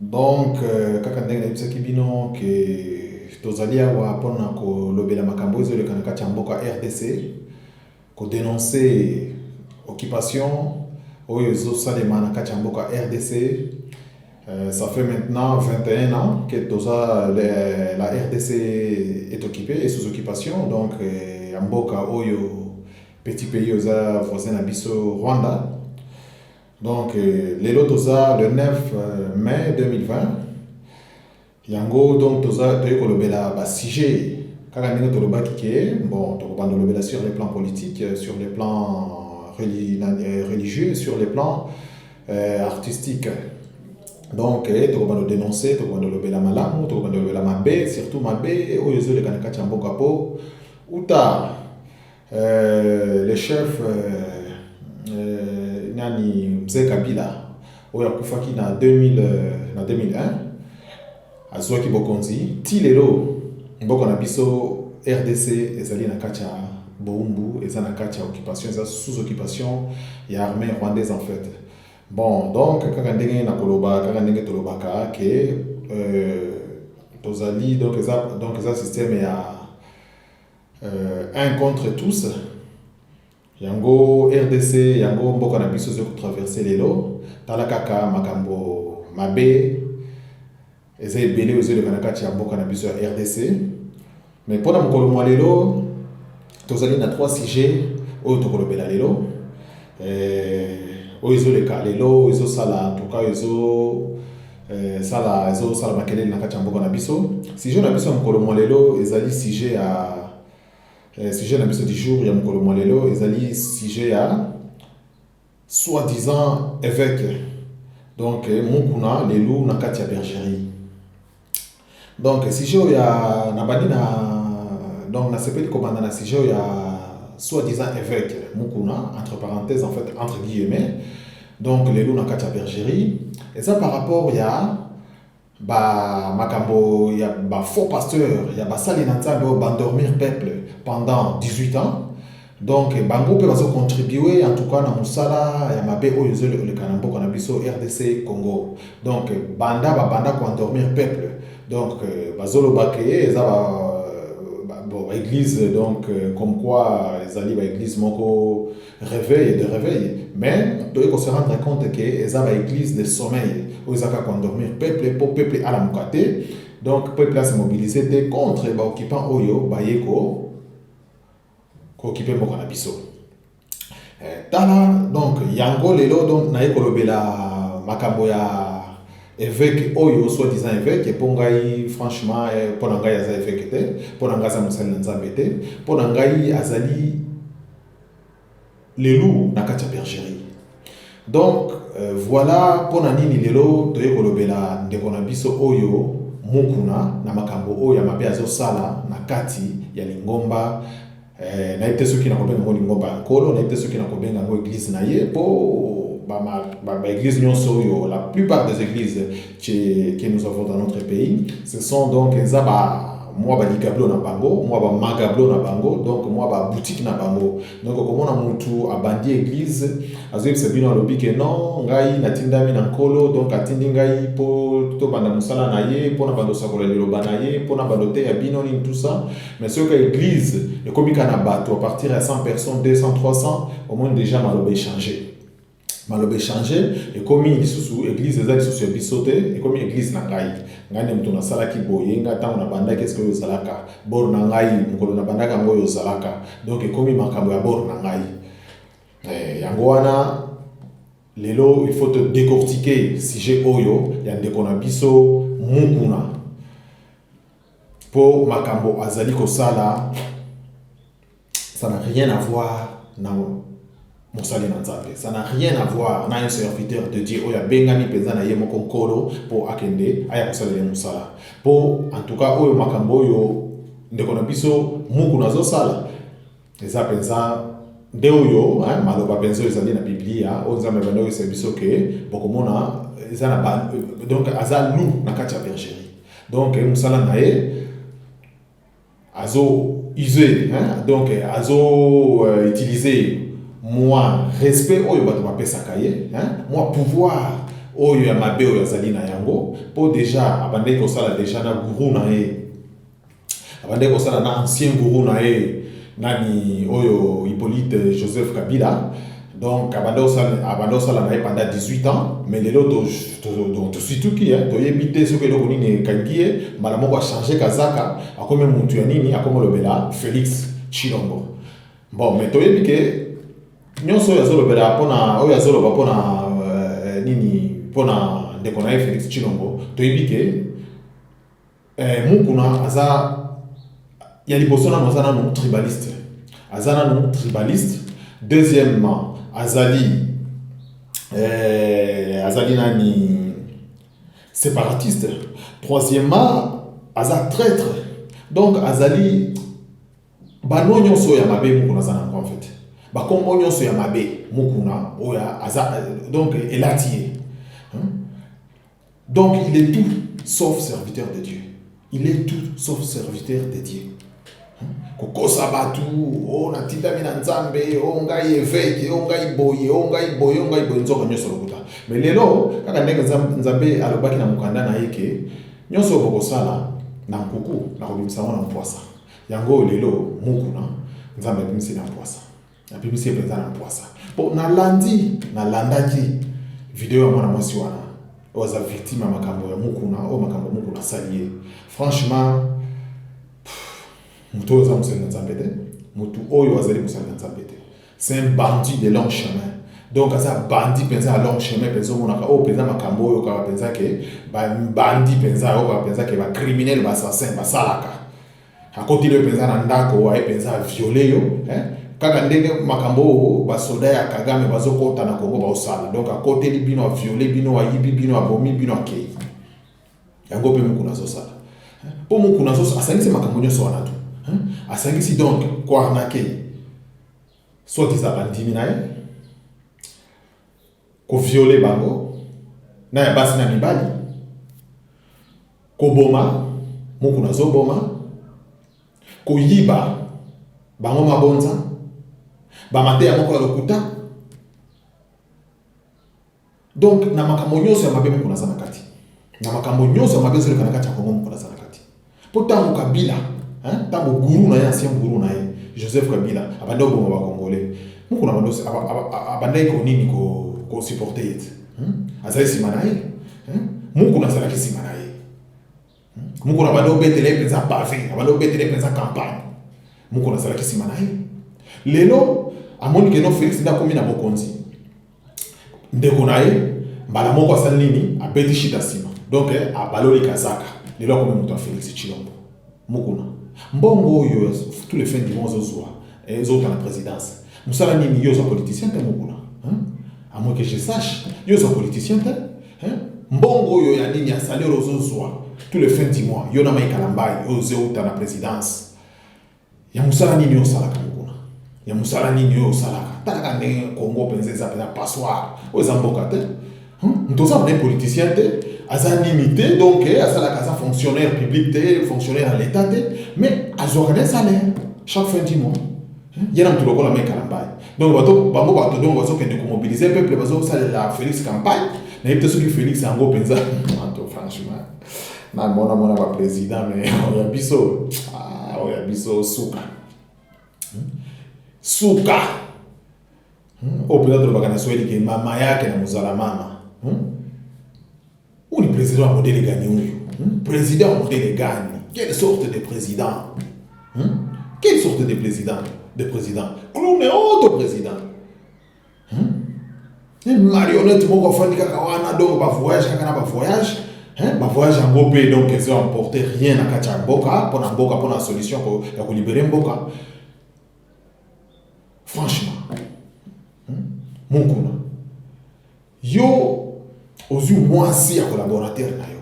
Donc, kaka ndenge nayebisaki bino que tozali awa mpo na kolobela makambo oyo ezoleka na kati ya mboka RDC, ko denoncer occupation oyo ezosalema na kati ya mboka RDC. Euh, ça fait maintenant 21 ans que toza le, la RDC est occupée et sous occupation donc euh, ya mboka oyo petit pays oza voisin na biso Rwanda Donc lelo toza le 9 mai 2020 yango donc toza toyei kolobela basujet kaka ndenge tolobaki ke bon tokobanda kolobela sur le plan politique sur le plan euh, religieux sur le plan euh, artistique donc eh, tokobanda kodenonce tokobanda kolobela malamu tokobanda kolobela mabe surtout mabe oyo ezoleka na kati ya mboka mpo uta Euh, le chef euh, euh, nani mzee Kabila oyo akufaki na 2000 euh, na 2001 azwaki bokonzi ti lelo mboka na biso RDC ezali na kati ya boumbu eza na kati ya occupation eza sous occupation ya armée rwandaise en fait bon donc kaka ndenge nakoloba kaka ndenge tolobaka ke euh, tozali donc eza donc eza système ya euh, un contre tous yango rdc yango mboka na biso ezali kotraverse lelo tala kaka makambo mabe eza ebele oyo ezoleka na kati ya mboka na biso ya rdc mais mpo na mokolo mwa lelo tozali na trois sujet oyo tokolobela lelo euh, oyo ezoleka lelo oyo ezosala antuka oyo ezo Eh, sala ezosala makelele na kati ya mboka na biso sujet na biso ya mokolo mwa lelo ezali sujet ya eh, sujet na biso du jour ya mokolo mwa lelo ezali sujet ya soi-disant évêque donc eh, mokuna lelu na kati ya bergerie Donc sujet oyo ya nabandi na donc nasepeli kobanda na sujet oyo ya soit disant évêque Mukuna entre parenthèses en fait entre guillemets donc lelo na kati ya bergerie eza par rapport ya ba makambo ya ba faux pasteur ya basali na Nzambe oyo bandormir peuple pendant 18 ans Donc bango mpe bazo contribuer en tout cas na musala ya mabe oyo ezo leka na mboka na biso RDC Congo. Donc banda ba banda ko endormir peuple. Donc euh, bazo loba ke eza ba euh, bon ba église donc euh, comme quoi ezali ba église moko réveil de réveil mais toye ko se rendre compte ke eza ba église de sommeil oyo ezaka ko endormir peuple po peuple alamuka te. Donc peuple a se mobiliser te contre ba occupants oyo baye ko ko kipe mboka na biso eh, tala donc yango lelo donc naye kolobela makambo ya évêque oyo soit disant évêque mpo ngai franchement eh, mpo na ngai aza évêque te mpo na ngai aza mosali na nzambe te mpo na ngai azali Les loups na kati ya bergerie. Donc euh, voilà pona nini lelo toye kolobela ndeko na biso oyo mukuna na makambo oyo ya mabe azosala na kati ya lingomba eh, nayebi te soki nakobenga yango lingomba ya nkolo nayebi te soki nakobenga yango eglise na ye mpo baeglise nyonso oyo la plupart des églises que nous avons dans notre pays ce sont donc eza ba mwa baligablo na bango mwa bamagablo na bango donc mwa babutiki na bango donc okomona mutu abandi eglise azoyebisa bino alobi ke non ngai natindami na nkolo donc atindi ngai mpo tobanda mosala na ye mpo na banda osakola liloba na ye mpo na banda oteya bino nini tout ça mais soki eglise ekomika na bato à partir ya 100 personnes 200 300 omoni déjà maloba echange maloba echange ekomi lisusu eglise eza lisusu ya biso te ekomi eglise na ngai ngai nde moto nasalaki boye ngai ntango nabandaki eske oyo ozalaka bor na ngai mokolo nabandaki yango oyo ozalaka donk ekomi makambo ya bor na ngai eh, yango wana lelo il faut todecortike sujet oyo ya ndeko na biso mukuna mpo makambo azali kosala ça n'a rien à voir na mosali na nzambe ça n'a rien à voir na un serviteur de dieu oyo abengami mpenza na ye moko nkolo mpo akende aya kosalela ye mosala mpo en tout cas oyo makambo oyo ndeko na biso muku nazosala eza mpenza nde oyo maloba mpenza oyo ezali na biblia oyo nzambe abanda oyesa biso ke bokomona eza na ba donc aza lou na kati ya bergerie donc mosala na ye azo use hein? donc azo euh, utiliser mwa respect oyo bato bapesaka ye hein? mwa pouvoir oyo ya mabe oyo azali na yango mpo deja abandaki kosala deja na guru na ye abandaki kosala na ancien guru na ye nani oyo hippolyte joseph kabila donc abanda kosala abanda kosala na ye pendant 18 ans mais lelo tosituki toyebi te soki eloko nini ekangi ye mbala moko achange kazaka akomi mutu ya nini akomi olobela félix tshilombo bon mais toyebi ke nyonso oyo azolobela mpona oyo azoloba mpona euh, nini mpona ndeko na ye félix tshilombo toyebi ke Eh, Mukuna aza ya liboso nanu aza nanu tribaliste, aza nanu tribaliste. Deuxièmement azali eh, azali nani separatiste. Troisièmement aza traitre, donc azali bano nyonso ya mabe Mukuna aza nango en fait, bakombo nyonso ya mabe Mukuna oyo aza donc elati ye. Donc il est tout sauf serviteur de Dieu. Il est tout sauf serviteur de Dieu. kokosa bato o oh, natindami na nzambe o oh, ngai eveke o oh, ngai boye o ngai boye o ngai boye nzoka nyonso lokuta me lelo kaka ndenge nzambe alobaki na mokanda na ye ke nyonso oyo bokosala na nkuku nakobimisa yango na mpwasa yango oyo lelo mukuna nzambe abimisi na mpwasa Nabimisi ye mpenza na mpwasa mpo nalandi nalandaki video ya mwana mwasi wana oyo aza victime ya makambo ya mokuna oyo makambo mokuna asali ye franchement moto oyo aza mosali na nzambe te moto oyo azali mosali na nzambe te c'est un bandit de long chemin donc aza bandi mpenza ya long chemin mpenza omonaka oyo oh, mpenza makambo oyo oyokaka mpenza ke bandi mpenza oyokaka mpenza ke bacriminel baassassin basalaka Akoteli yo mpenza na ndako, aye mpenza aviole yo eh? kaka ndenge makambo oyo basoda ya Kagame bazokota na Kongo baosala. Donc akoteli bino, aviole bino, ayibi bino, abomi bino, akei. Yango mpe mokuna azosala eh? mpo mokuna asangisi makambo nyonso wana tu eh? asangisi donc koarnake soit disant bandimi na ye ko violer bango na ya basi na mibali, koboma mukuna azoboma, koyiba bango mabonza, ba mateya moko ya lokuta. Donc na makambo nyonso ya mabe mukuna aza na kati, na makambo nyonso ya mabe ezoleka na kati ya Congo mukuna aza na kati. Mpo ntango Kabila, ntango guru na ye, ancien guru na ye Joseph Kabila abandaki koboma ba Congolais, mukuna bandosi abandaki ko nini ko supporter ye te, azali nsima na ye, mukuna azalaki nsima na ye, mukuna abandi obetela ye mpenza pave, abandi obetela ye mpenza campagne, mukuna azalaki nsima na ye. Lelo amoni keno Felix nde akomi na bokonzi ndeko na ye mbala moko asali nini abeti shida nsima donc abaloli kazaka lelo akomi moto ya Felix Tshilombo mukuna mbongo oyo tous les fins du mois ozozwa eh, ezowuta na présidence mosala nini yo oza politicien te mukuna à moins que je sache yo oza politicien te mbongo oyo ya nini ya salaire ozozwa tous les fins du mois yo na Mike Kalambayi oyo ozowuta na présidence ya mosala nini oyo osalaka mokuna ya mosala nini oyo osalaka talaka ndenge kongo mpenza eza mpenza passoire oyo eza mboka te hmm? moto oza mpe politicien te aza nini te donc eh, asalaka aza fonctionnaire public te fonctionnaire ya l'état te mais azwaka nde salaire chaque fin du mois hmm? ye na moto lokola mai kalambai donc bato bango bato donc bazokende komobilize peuple bazosalela félix campagne nayebi te soki félix yango mpenza na mona mona ba president me oyo ya biso ah, oyo ya biso suka hmm? suka hmm? oyo mpenza tolobaka na swahili ke mama yake na mozala mama hmm? ou le président modele gani oyo président modele gani quelle sorte de président quelle sorte de président de président clown auto président hmm? une marionnette moko afandi kaka wana donc ba voyage kaka na ba voyage hein ba voyage yango mpe donc ezo emporter rien na kati ya mboka mpo na mboka mpo na solution ya kolibere mboka franchement hmm? mokuna yo ozwi mwasi ya collaborateur na yo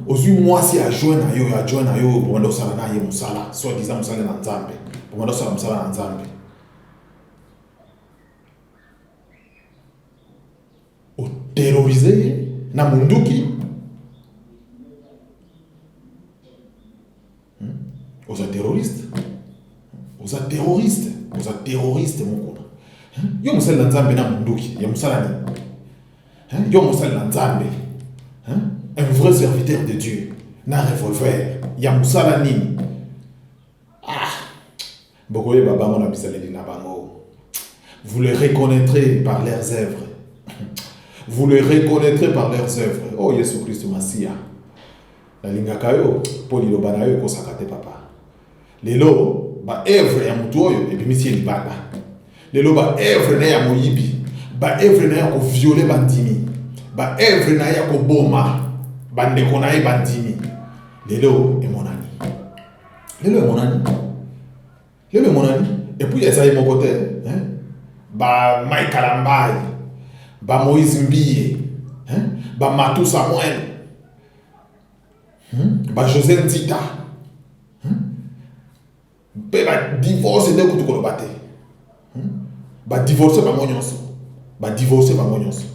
ozwi mwasi ya join na yo ya join na yo obanda osala na ye mosala soit disant mosala na nzambe obanda osala mosala na nzambe oterrorize ye na monduki Hmm? Oza terroriste. Oza terroriste. Oza terroriste mukuna. Hmm? Yo musali na Nzambe na munduki ya musala ni. Hmm? Yo musali na Nzambe. Un vrai serviteur de Dieu na revolver ya musala nini? Ah. Bokoyeba bango na bizaleli na bango. Vous les reconnaîtrez par leurs œuvres. Vous les reconnaîtrez par leurs œuvres. Oh Yesu Kristo Masiya. Nalingaka yo mpo liloba na yo ekosaka te papa. Lelo ba œuvre ya motu oyo ebimisi ye libanda. Lelo ba œuvre na ya moyibi, ba œuvre na ya koviole bandimi, ba œuvre na ya koboma bandeko na ye bandimi. Lelo emonani. lelo emonani lelo emonani epuis eza ye moko te ba mai kalambai ba moise mbiye ba matu samuel hmm? ba josé nzita mpe hmm? ba divorce nde kutu koloba te hmm? ba divorce bango nyonso ba divorce bango nyonso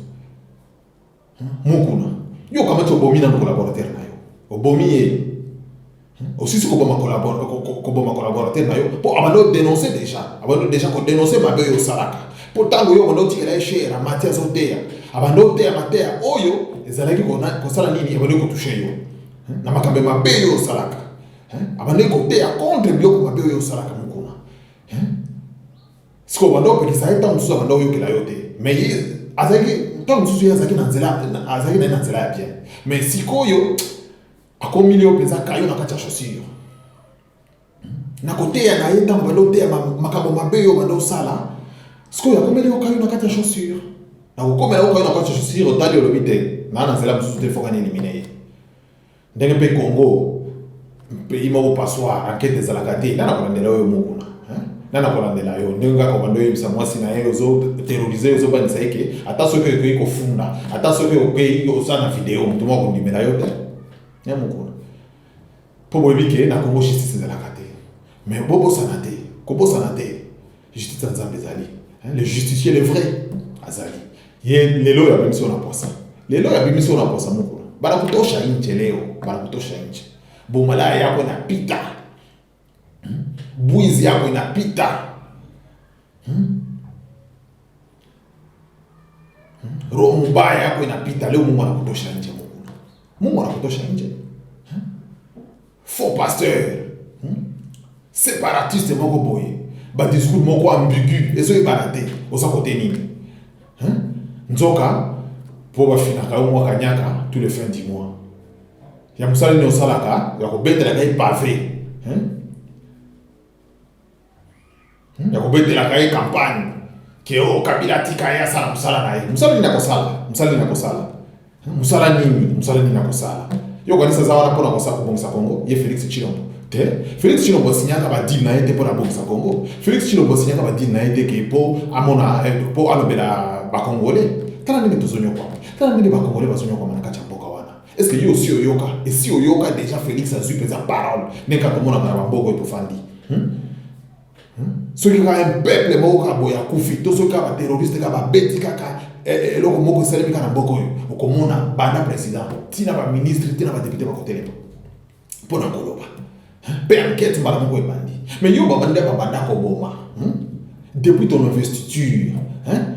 Mukuna. Yo okamati obomi nanu collaborateur na yo. Obomi ye. Osisi koboma collabor- ko- ko- koboma collaborateur na yo mpo abanda odenonse deja abanda deja kodenonse mabe oyo osalaka mpo ntango yo obanda otikela ye shere amati azoteya abanda oteya mateya oyo ezalaki kona- kosala nini ebandaki kotushe yo Hmm? na makambo ya mabe oyo osalaka Hmm? abandaki koteya contre biloko mabe oyo osalaka mokuna Hmm? sikoyo banda opekisa ye ntango mosusu abanda oyokela yo te mais ye azalaki ntango mosusu ye azalaki na nzela azalaki na ye na nzela ya bien mais sikoyo akomili yo mpenza kayo na kati ya chaussure na koteya na ye ntango banda oteya makambo mabe yo banda osala sikoyo akomeli yo kayo na kati ya chaussure nakokomela yo kayo na kati ya chaussure otali olobi te naa na nzela mosusu te foka nielimine ye Ndenge mpe Congo pays moko passoire enquête ezalaka te nana kolandela oyo mokuna nana kolandela yo ndenge kaka obanda oyebisa mwasi na ye ozo terrorise ozobanisa ye ke ata soki okoki kofunda ata soki okeyi oza na video moto moko akondimela yo te ya mokuna mpo boyebi ke na kongo justice ezalaka te mais bobosana te kobosana te Justice ya Nzambe ezali. Le justifier le vrai azali. Ye lelo ya bimisi na posa. Lelo ya bimisi na posa moko. Bana kutosha inje leo, bana kutosha inje. Bomala yako na pita. Hmm? Buizi yako na pita. Hmm? Roho mubaya yako inapita leo, Mungu anakutosha nje, Mungu Mungu anakutosha nje. Faux pasteur hmm? separatiste moko boye, ba discours moko ambigu ezoyebana te, oza kote nini? Nzoka po bafinaka yo mwa kanyaka tous les fins du mois ya mosala nini osalaka ya kobetelaka ye pave ya kobetelaka ye campagne ke o oh, kabila atika ye asala mosala na ye mosala nini akosala mosala nini akosala mosala nini mosala nini akosala yo okanisi aza wana mpona kosa kobongisa kongo ye félix chilombo te félix chilombo asinyaka badile na ye te mpona abongisa kongo félix chilombo asinyaka badile na ye te ke mpo amona mpo eh, alobela bakongole tala ndenge tozonyokwama tala ndenge bakongole bazonyokwama na kati ya mboka wana Est-ce que yo aussi oyoka? Esi oyoka dejà Felix azui penza parole ndenge kaka tomonaka na bamboka oyo tofandi? Hmm? Hmm? Soki kaka un peuple moko kaka boye akufi to soki kaka baterroriste kaka babeti kaka eh, eh, eloko moko esalemi kaka na mboka oyo, okomona banda president ti na baministre ti na badepute bakotelema mpo na koloba mpe ankete mbala moko ebandi. Mais yo babanda babanda koboma hmm? depuis ton investiture hein?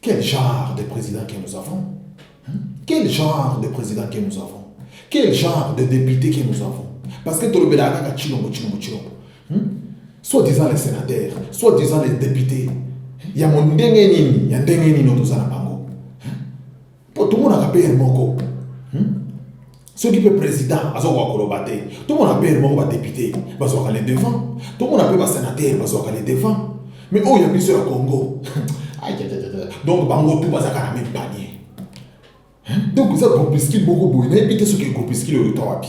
Quel genre de président que nous avons hmm? Quel genre de président que nous avons Quel genre de député que nous avons Parce que tolobelaka kaka chilombo chilombo chilombo hmm? soit disant les sénateurs soit disant les députés ya mondenge nini ya ndenge nini oyo toza na bango mpo tomonaka mpe ye moko hmm? soki mpe président azokoka koloba te tomona mpe ye moko badepute bazwaka le devant tomona mpe basenatere bazwaka le devant mais oyo ya biso ya congo donc bango tu bazalaka na meme panier donc eza groupuscule moko boye nayebi te soki groupuscule oyo ta wapi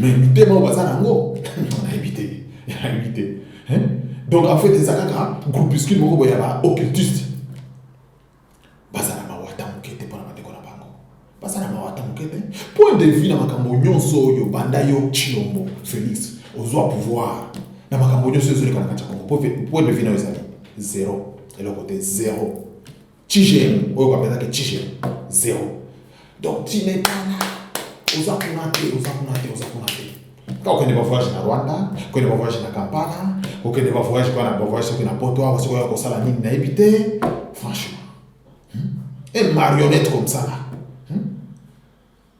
mais mitema oyo baza nango nayebi te nayebi te donc en fait eza kaka groupuscule moko boye ya ba occultiste baza na mawa ata moke te mpo na bandeko na bango baza na mawa ata moke te point de vue na makambo nyonso oyo banda yo chilombo félix ozwa pouvoir na makambo nyonso ezoleka na kati ya kongo point de vue nayo ezali zero eloko te zero Tigem, oyo bapesaki tigem, zero. Donc, tu n'es pas là. Oza kuna te, oza kuna te, oza kuna te. Kaka okende ba voyage na Rwanda, okende ba voyage na Kampala, okende ba voyage kwa na ba voyage soki na Poto, awa soki oya kosala nini nayebi te. Franchement. Hmm? Et marionnette comme ça là.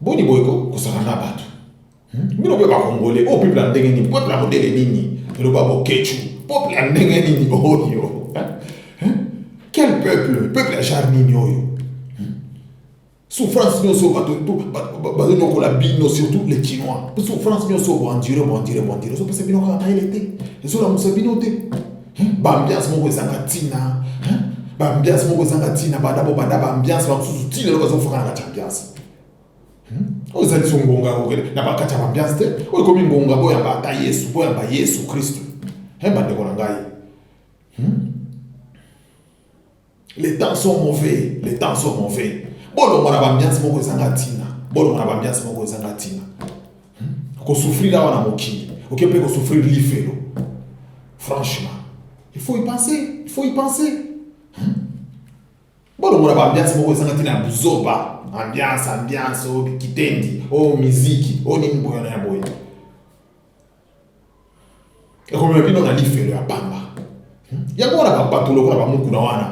Boni boye ko kosana na bato hmm? bino mpe bakongole oyo oh, peuple ya ndenge nini peuple ya modele nini eloba bokecu peuple ya ndenge nini oyo oh, hmm? quel peuple peuple ya genre nini oyo hmm? souffrance nyonso bazonyokola bino surtout les chinois souffrance nyonso boendure boendure boendure ezopesa bino kaka mayele te ezolamusa bino te bambiance moko ezanga ntina bambiance moko ezanga ntina banda bobanda bambiance bamosusu ti lelo bazofaka na kati ya ambiance hmm? oyo ezali so ngonga na bakati ya bambiance te oyo ekomi ngonga boyamba ata yesu boyamba yesu kristu bandeko na ngai hmm? Les temps sont mauvais, les temps sont mauvais. Bolongwa na bambiansi moko ezanga ntina, bolongwa na bambiansi moko ezanga ntina. Hmm? Kosufrir awa na mokili, oke mpe kosufrir lifelo. Franchement, il faut y penser, il faut y penser. Hmm? Bolongwa na bambiansi moko ezanga ntina ya buzoba. Ambiance, ambiance, o oh, kitendi, o oh, miziki, o oh, nini boyana ya boye. ekomema bino na lifelo ya pamba hmm? yango wana babato lokola bamokuna wana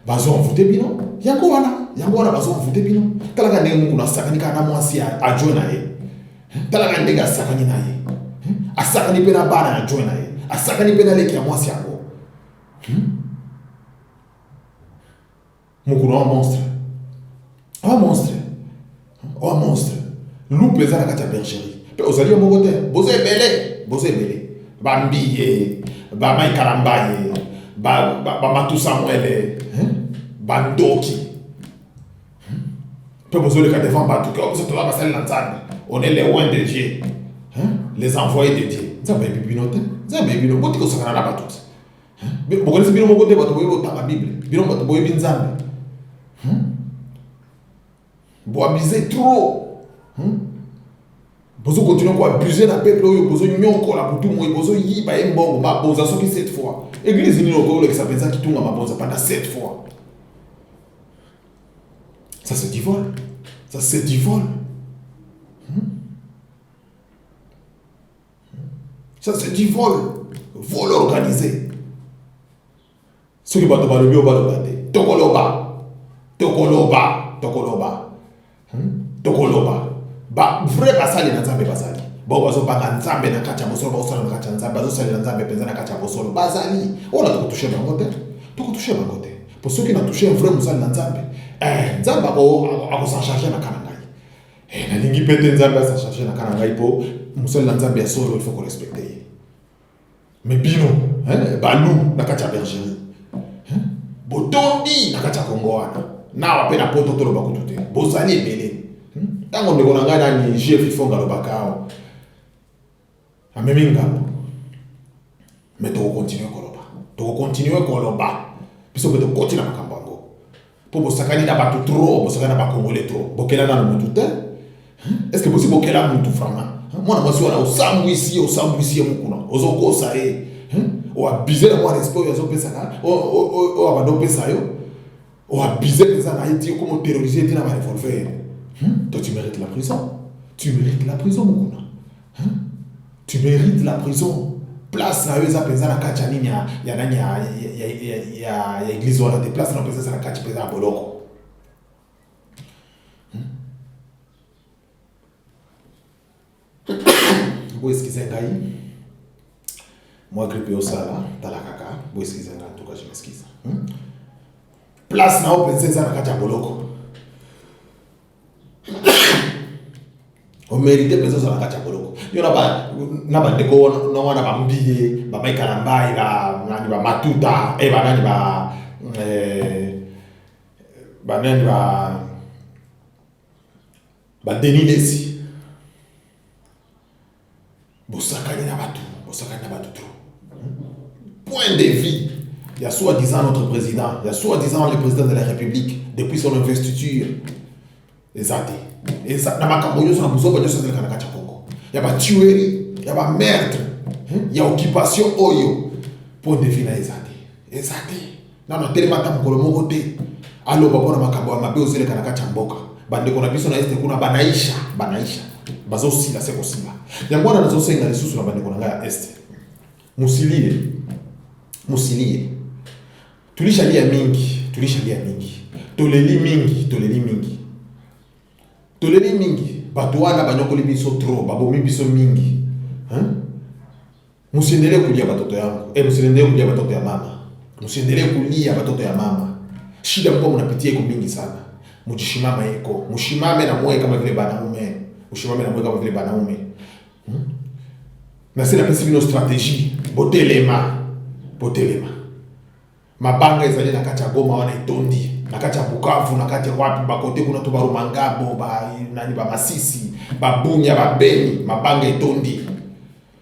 bazo envoute bino yango wana yango wana bazo envoute bino talaka ndenge mokuna asakani kaka na mwasi ya adjoint na ye hmm? talaka ndenge asakani na ye hmm? asakani mpe na bana ya adjoint na ye asakani mpe na leki ya mwasi yango mokolo wa monstre wa monstre wa monstre lupe eza na kati ya bergerie mpe ozali yo moko te boza ebele boza ebele bambiye bamaikalambaye bamatusa ba, ba mwele bandoki mpe bozoleka devant bato ke biso toza basali na nzambe on est les loin de dieu les envoyés de dieu nzambe ayebi bino te nzambe ayebi bino botika osakana na bato te Hein? Bokanisi bino moko te bato boyebi kotanga Bible, bino bato boyebi Nzambe. Hmm? Boabize trop. Hmm? Bozo continuer ko abuser na peuple oyo bozo nyokola butu moyi bozo yiba ye mbongo mabonza soki cette fois. Église nini okolekisa mpenza kitunga mabonza pendant cette fois. Ça c'est du vol. Ça c'est du vol. Ça c'est du vol. Vol organisé. Ce que bato balobi oyo baloba te tokoloba tokoloba tokoloba hmm? tokoloba ba vrai basali na nzambe bazali bao bazobanga nzambe na kati ya bosolo baosala na kati ya nzambe bazosalela nzambe mpenza na kati ya bosolo bazali oyo na tokotushe bango te tokotushe bango te mpo soki natushe vrai mosali na nzambe eh, nzambe akosancharge na kana ngai Eh, nalingi pe te nzambe asa charge na kana ngai po mosali na nzambe ya solo il faut ko respecte ye me bino eh, balu na kati ya bergerie eh, botondi na kati ya kongo wana nawa mpe na poto toloba kutu te bozali ebele ntango ndeko na ngai nani jef ifonga alobaka awa Amemi ngambo. Mais toko continuer koloba. Toko continuer koloba. Biso pe tokoti na makambo yango. Po bosakani na batu trop, bosakani na ba congolais trop. Bokela nanu mutu te. Est ce que bosi bokela mutu vraiment? Mwana mwasi wana osambwisi ye, osambwisi ye mukuna. Ozo kosa ye. O abuser na mwa respect oyo azo pesa na, oyo abanda opesa yo. o abuse mpenza na ye ti okoma oterrorise te na ba revolver hmm? toi tu mérite la prison tu mérite la prison mokuna hmm? tu mérite la prison place na yo eza mpenza na kati ya nini ya ya nani ya ya ya ya ya eglise wana te place na mpenza eza na kati mpenza ya boloko Bo excusez ngai. Moi grippe yo sala tala kaka. Bo excusez ngai en tout cas je m'excuse. Hmm? Place na open senza na kati ya boloko. omerite mpenza ozala kati ya boloko yo na bandeko na wana bambiye bamaikala mbai banani bamatuta e banani ba eh, banani ba Ba Denis Lessi bosakani na bato bosakani na bato trop point de vue ya soi disant notre président ya soi disant le président de la république depuis son investiture eza te eza na makambo nyonso na buzoba nyonso ezalaka na kati ya congo ya batuerie ya bameurtre ya occupation oyo point de vue na eza te eza te nano atelema ata mokolo moko te aloba mpo na makambo ya mabe ozeleka na kati ya mboka bandeko na biso na este kuna banaisha banaisha bazosila se kosila yango wana nazosenga lisusu na bandeko na ngai ya este musilie musilie tulishalia mingi tulishalia mingi toleli mingi toleli mingi toleli mingi bato wana banyokoli biso trop babomi biso mingi hein? Musendele kulia batoto yangu. Eh, musendele kulia batoto ya mama. Musendele kulia batoto ya mama. Shida mko mnapitia iko mingi sana. Mujishimama iko. Mushimame na moyo kama vile banaume. Mushimame na moyo kama vile banaume. Hmm? Na sina pesi bino strategie. Botelema. Botelema. Mabanga ezali na kati ya Goma wana etondi. Na kati ya Bukavu, na kati ya wapi bakote kuna to barumangabo, ba nani ba Masisi, ba Bunya, ba Beni, mabanga etondi.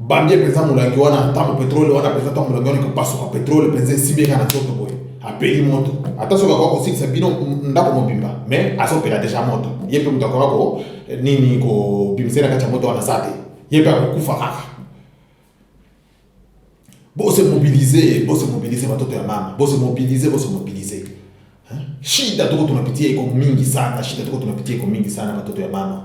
Bambie penza mulangi wana tango petrole wana penza tango mulangi wana ekopasuka petrole penza esibeka na nzoto boye apeli moto ata soki akoka kosilisa bino ndako mobimba mais azopela deja moto ye mpe moto akoka ko eh, nini kobimisa na kati ya moto wana sa te ye mpe akokufa kaka bose mobilize bose mobilize batoto ya mama bose mobilize bose mobilize shida toko tunapitia iko mingi sana shida toko tunapitia iko mingi sana batoto ya mama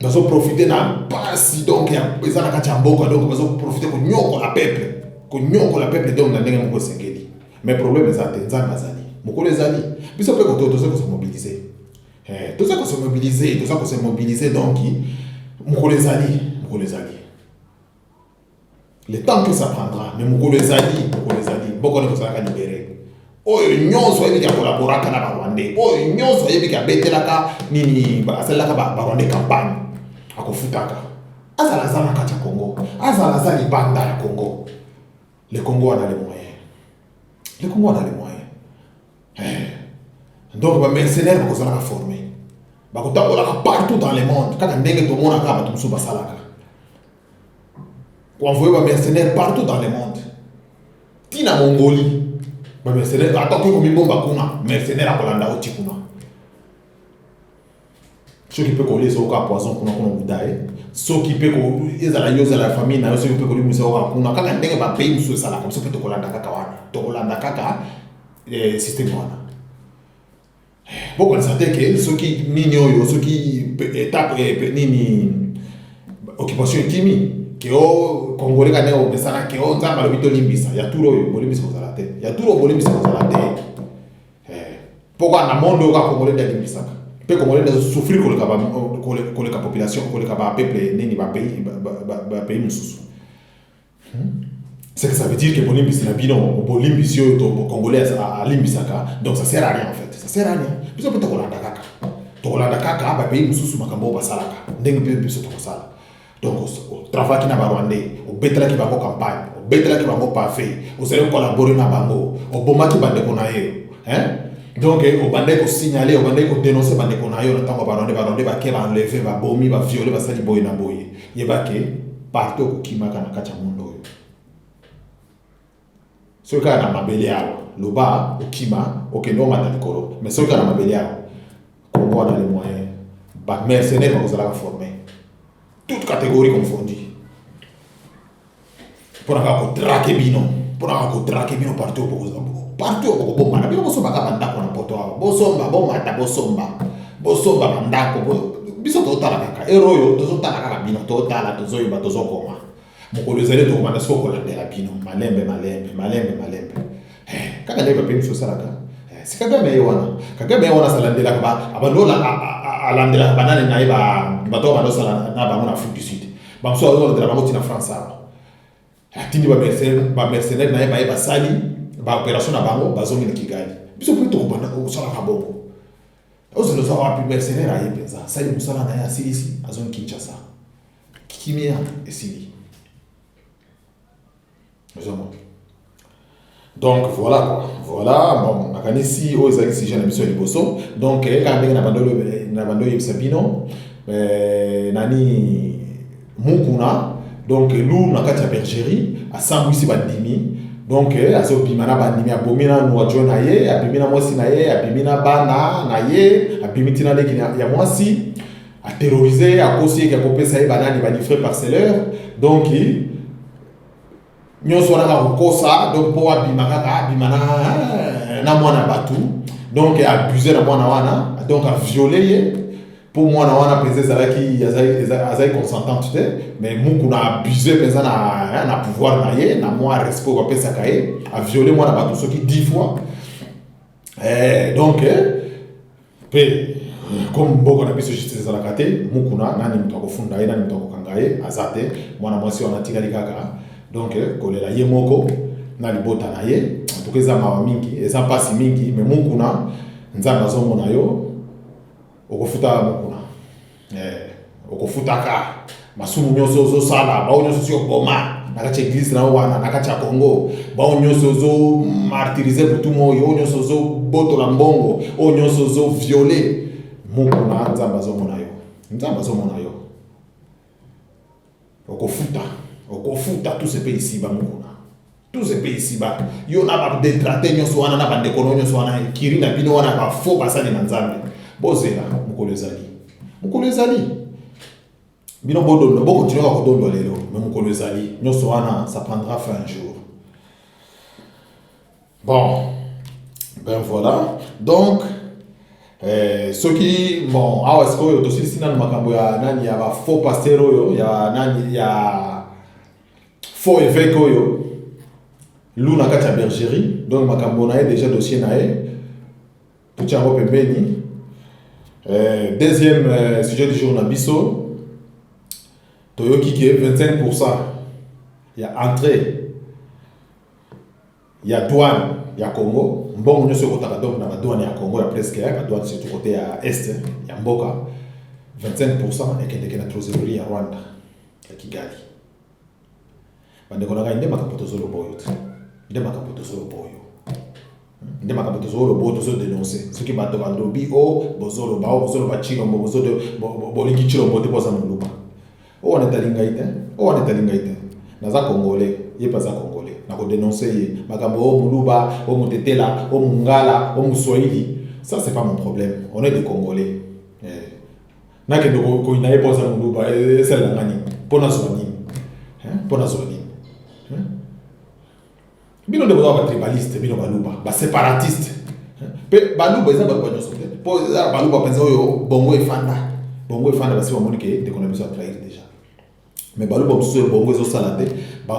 bazo profite na mpasi donc eza na kati ya mboka donc bazo profite konyokola peuple konyokola peuple donc na ndenge moko esengeli mais problème eza te nzambe azali mokolo ezali biso mpe koto toza kose mobilize eh, toza kose mobilize toza kose mobilize donc mokolo ezali mokolo ezali Le temps que ça prendra, mais mokolo ezali, mokolo ezali, boko ne kozalaka libere. Oyo nyonso ayebi kolaboraka na Barwandais, oyo nyonso ayebi kabetelaka nini, asalelaka Barwandais campagne, akofutaka. Azala aza na kati ya Congo, azala aza libanda ya Congo. Le Congo a les moyens. Le Congo a les moyens. Eh. Donc ba mercenaires bakozalaka former, bakotambolaka partout dans le monde, kaka ndenge tomonaka bato mosusu basalaka. ko envoyer ba mercenaires partout dans le monde ti na Mongolie ba mercenaires ata okoki komibomba kuna mercenaire akolanda yo ti kuna soki mpe kolia ezoyoka poison kuna kuna okuta ye soki mpe ezala yo ozala ya famille na yo soki mpe kolimisa yoka kuna kaka ndenge bapays mosusu esalaka biso mpe tokolanda kaka wana tokolanda kaka eh, systeme wana bokanisa te ke soki nini oyo soki etape eh, eh, nini occupation ekimi ke o oh, congolais kane omesana ke o oh, nzambe alobi tolimbisa ya tour oyo bolimbisa kozala te ya tour oyo bolimbisa kozala te eh, mpo kaka na monde oyo kaka congolais nde alimbisaka mpe congolais nde azosouffrir koleka koleka population koleka bapeuple nini bapays mosusu C'est que ça veut dire que bolimbisi na bino bolimbisi oyo to congolais alimbisaka donc ça sert à rien en fait ça sert à rien biso mpe tokolanda kaka tokolanda kaka bapays mosusu makambo oyo basalaka ndenge mpe biso tokosala donc otravaki na barwandais obetelaki bango campagne obetelaki bango pafe ozali kokolabore na bango obomaki bandeko na ye donc eh, obandaki kosignale obandaki kodenonse bandeko na yo na ntango barwandais barwandais bake baenleve babomi baviole basali boye na boye Yeba ke partout okokimaka na kati ya monde oyo, soki kaka na mabele awa, loba okima okende omata likolo, mais soki kaka na mabele awa, Congo wana le moyen ba mercenaires bakozalaka forme, toute categorie confondue. mpo na kaka kotrake bino mpo na kaka kotrake bino partout partout okobomana bino bosombaka bandako na poto awa bosomba bomata bosomba bosomba bandako biso totala kaka ero oyo tozotala kaka bino totala tozoyeba tozokoma mokolo ezali tokobanda soko kolandela bino malembe malembe malembe malembe Eh, kaka ndenge bape biso osalaka eh, si kagame ye wana kagame ye wana asalandelaka abalola alandelaka banani na ye bato oyo bandosala na bango na afrique du sud bamosusu aolandela bango ntina france awa atindi bamercenaire na ye baye basali baopération na bango bazongi na kigali biso mpe tokobanda kosalaka bongo ozela oza wapi mercenaire aye mpenza asali mosala na ye asilisi azongi kinshasa kimia esili donc voilà quoi voilà bon nakanisi oyo ezalaki sujet na biso ya liboso donc eh, kaka ndenge na bando na bando oyebisa bino eh, nani mukuna donc lu na kati ya bergerie asambwisi bandimi donc eh, azobima na bandimi abomi na nwajo na ye abimi na mwasi na ye abimi na bana na ye abimi ntina leki ya mwasi A terroriser, a kosi ke ko pesa ye banani ba livre parceleur. Donc nyoso wana ka kokosa donc po abima kaka abima na na mwana batu. Donc abuse na mwana wana, donc a violer ye po mwana wana mpenza ezalaki azalaki consentante te mais mukuna abuse mpenza na, na pouvoir na ye na mwa respect bapesaka ye aviole mwana bato soki 10 fois eh, donc eh, pe eh, comme mboka na biso justice ezalaka te mukuna nani moto akofunda ye nani moto akokanga ye aza te mwana mwasi wana atikali kaka donc eh, kolela ye moko na libota na ye antuka eza mawa mingi eza mpasi mingi me mukuna nzambe azomona yo Okofuta yango kuna. Eh, okofutaka masumu nyonso ozosala, bao nyonso osi oboma na kati ya eglise na yo wana, na kati ya Congo, bao nyonso ozomartirize butu moi, oyo nyonso ozobotola mbongo, oyo nyonso ozoviole, mokuna Nzambe azomona yo. Nzambe azomona yo. Okofuta, okofuta tous epe isiba mukuna. Tous epe isiba. Yo na ba detrate nyoso wana na ba ndeko no nyoso wana kiri na bino wana ba faux basali na Nzambe. Bozela mukolo ezali. Mukolo ezali. Bino bodondo boko tinoka kodondo lelo, mais mukolo ezali. Nyoso wana ça prendra fin un jour. Bon, ben voilà. Donc, eh, soki bon awa sikoyo tosilisi nanu makambo ya nani ya ba faux pasteur oyo ya nani ya faux évêque oyo lu na kati ya bergerie donc makambo na ye déjà dossier na ye tutya yango pembeni eh, deuxième eh, sujet du jour na biso toyoki ke 25 pourcent ya entrée ya douane ya Congo mbongo nyoso ekotaka donc na ba douane ya Congo ya presque ba douane surtout côté ya est ya mboka 25% ekendeke na trésorerie ya Rwanda ya Kigali bandeko na ngai nde makambo tozoloba oyo te nde makambo tozoloba oyo nde makambo tozoloba oyo tozodenonse soki bato balobi o oh, bozoloba o oh, bozoloba cilombo bolingi cilombo te boza moluba Oyo wana etali ngai te, oyo wana etali ngai te. Naza congolais, ye mpe aza congolais. Nako denoncer ye. Makambo o muluba, o mutetela, o mungala, o muswahili, ça c'est pas mon problème. On est des congolais. Eh. Nakende koyina ye mpo aza muluba, esalela nga nini? Mpo nazwa nini? Mpo nazwa nini? bino nde boza batribaliste bino baluba baseparatiste mpe baluba eza baluba nyonso te mpo eza na baluba mpenza oyo bongo efanda bongo efanda basi bamoni ke ndeko na biso atrahir déjà mais baluba mosusu oyo bongo ezosala te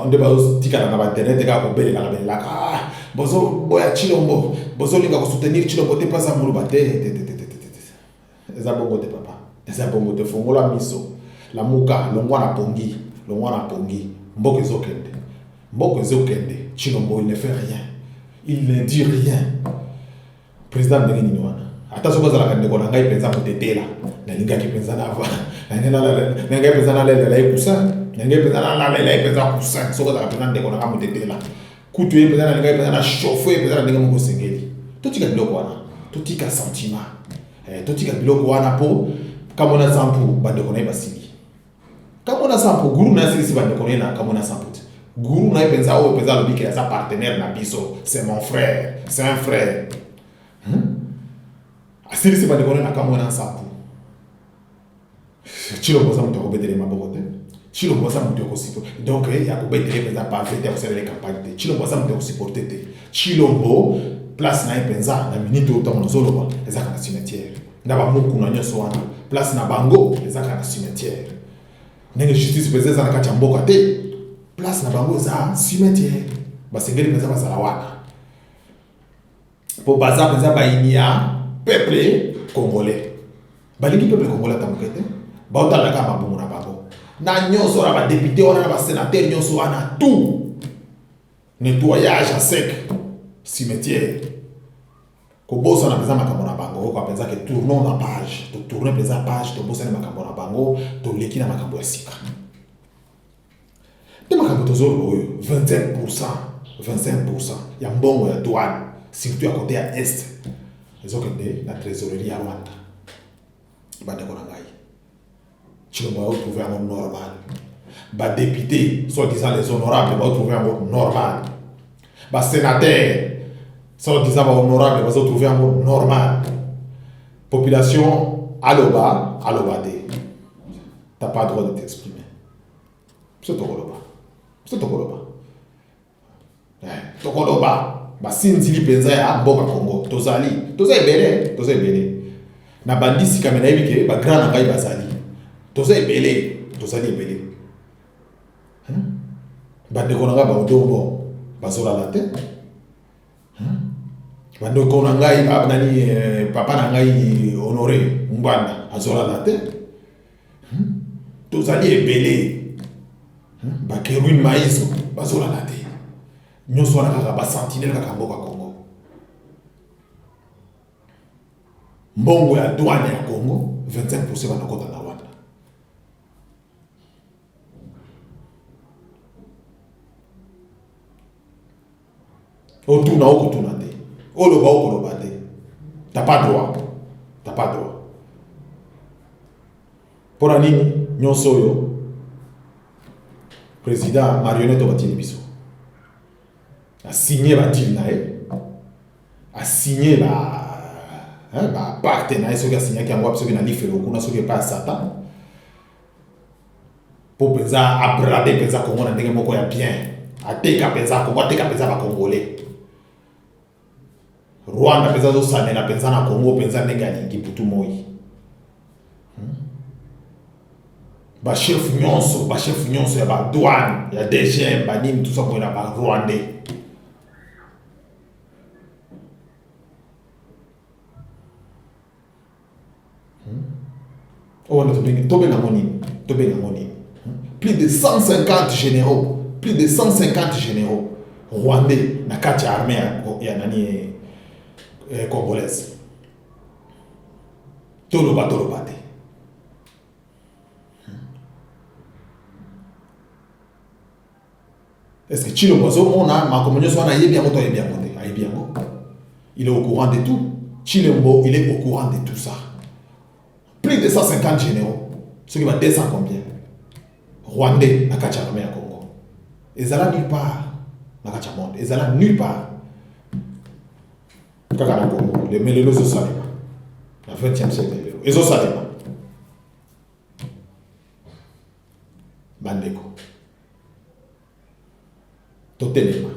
nde bazotikala na bainternet kaka kobelelaka belelaka ah, bozoboya chilombo bozolinga kosoutenir chilombo te mpo aza moluba te Eza bongo te papa. Eza bongo te fongola miso. Lamuka longwa na pongi. Longwa na pongi. Mboka ezokende. Mboka ezokende. Chilombo il ne fait rien. Il ne dit rien. Président ndenge nini wana? Ata soki azalaka ndeko na ngai mpenza kotetela nalingaki mpenza nava nangai mpenza nalelela ye kusa nangai mpenza nalalela ye mpenza kusa soki azalaka mpenza ndeko na ngai motetela Kutu ye mpenza nalingaki mpenza na chauffe ye mpenza na ndenge moko esengeli. Totika biloko wana, totika sentiment, eh, totika biloko wana mpo Kamona Sampu bandeko na ye basili. Kamona Sampu guru na ye asilisi bandeko na ye na Kamona Sampu te. Guru na ye mpenza oyo mpenza alobi ke aza partenaire na biso, c'est mon frère, c'est un frère. Hmm? Asilisi bandeko na ye na Kamona Sampu. Tshilombo aza moto akobetele maboko te Tshilombo aza moto ya kosiporte donc eh, ya kobetele mpenza pave te akosalela campagne te Tshilombo aza moto ya kosiporte te Tshilombo place na ye mpenza na minite oyo ntango nazoloba ezaka na cimetière na bamokuna nyonso wana place na bango ezaka na cimetière ndenge justice mpenza eza na kati ya mboka te place na bango eza cimetière basengeli mpenza bazala wana po baza penza bayini ya peuple congolais balingi peuple congolais ata moke te baotala kaka mabongo na bango na nyonso na badepute wana na basenatere nyonso wana tout nettoyage ya sec cimetière kobosana mpenza makambo na bango oyoka mpenza ke tournons na page totourne mpenza page tobosani makambo na bango toleki na makambo ya sika Nde makambo tozoloba oyo 25% 25% ya mbongo ya douane surtout ya kote ya est ezokende na trésorerie ya rwanda bandeko na ngai tshilombo aotrouve yango normal badepute soit disant les honorable baotrouve yango normal basénateur soit disant bahonorable bazotrouve yango normal population aloba aloba te t'as pas droit de t'exprimer biso tokoloba biso tokoloba eh, tokoloba basinzili mpenza ya mboka congo tozali toza ebele toza ebele na bandisi kame nayebi ke bagrand na ngai bazali toza ebele tozali ebele bandeko na ngai baodobo bazolala te bandeko na ngai nani eh, papa na ngai honore ngbanda azolala te Hmm? Tozali ebele. Hmm? Ba Kerwin Maizo bazolala te. Nyonso wana kaka ba sentinelle kaka mboka Congo. Mbongo ya douane ya Congo 25% banakota na Rwanda. Otuna o kotuna te. Oloba o koloba te. T'as pas droit. T'as pas droit. Mpo na nini nyonso oyo président marionnette oyo batindi biso asigne badile na ye asigne ba hein, ba parte na ye soki asignaki yango wapi soki na lifelo kuna soki epai ya satan mpo mpenza abrade mpenza Congo na ndenge moko ya bien, ateka mpenza Congo, ateka mpenza ba Congolais. Rwanda mpenza azosanela mpenza na Congo mpenza ndenge alingi butu moi. Hmm? Bachef nyonso, bachef nyonso ya ba douane, ya DGM, banini tout ça koyela ba Rwandais. oyo nde tobengi tobenga yango nini tobenga yango nini plus de 150 généraux plus de 150 généraux rwandais na kati ya armée ya nani eh, eh, congolaise toloba toloba te Est-ce que Tshilombo azomona makambo nyonso wana ayebi yango to ayebi yango te? Ayebi yango. Il est au courant de tout. Tshilombo, il est au courant de tout ça. Plus de 150 généraux, ceux qui va 200 combien Rwandais na kati ya armée ya Congo. Ezala nulle part na kati ya monde, ezala nulle part. Kaka na Congo, le melelo zo salema. Na 20e siècle lelo. Ezo salema. Bandeko, totelema.